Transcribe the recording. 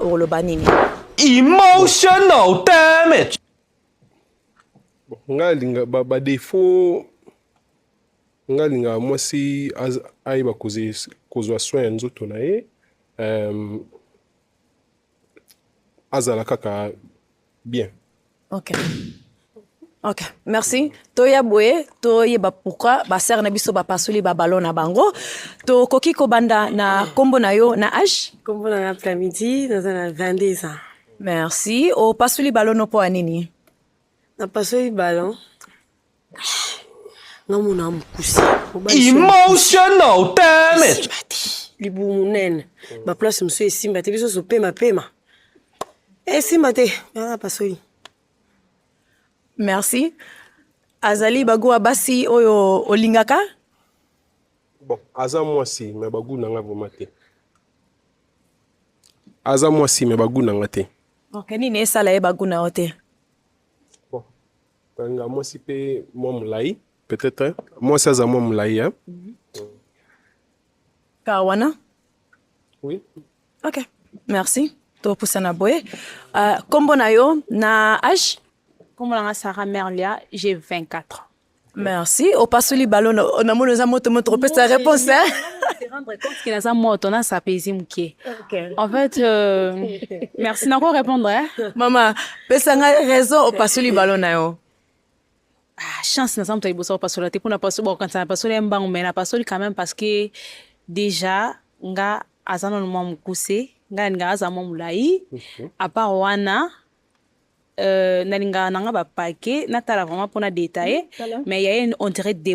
okoloba nini emotional damage ngai alinga badefaut ngai alingaka mwasi ayeba kozwa soin ya nzoto na ye azala kaka Bien. Ok. Ok, merci. Toya boye, toyeba pourquoi ba sœur na biso ba pasoli ba ballon na bango. To koki ko banda na kombo na yo na âge? Kombo na après midi, naza na 22 ans. Merci. O pasoli ballon no po anini? Na pasoli ballon namona mokuse emotional damage libumu monene baplace mosusu esimba te biso ozo pema pema esimba te aa pasoli merci azali bagoa basi oyo olingaka bon aza mwasi me bagu na nga vraimen te aza mwasi me bagu na nga te ok nini esala ye bagu na yo te Kanga mwasi pe mwa molai peut-être mwasi aza mwa molai hein? Mhm. Kawana Oui. Ok, merci. Topusana boye. Uh, kombo na yo na age? Kombo na nga Sarah Merlia, j'ai 24 ans. Merci. Opasoli balo namoni oza moto moto opesa réponse hein? rendre compte que naza moto na sapezi moke. Okay. En fait euh, merci nako répondre hein. Mama Pesa ngai raison opasoli balo na yo. Ah, chance naza moto ya liboso kopasola te mpo napasoli bakokanisa napasoli ya mbangu mai napasoli quand même parce que déjà nga aza nano mwa mokuse nga nalingaka aza mwa molai mhm. apart wana euh, nalingaka na nga bapake natala vraiment mpo na detaille mais ya ye on dirait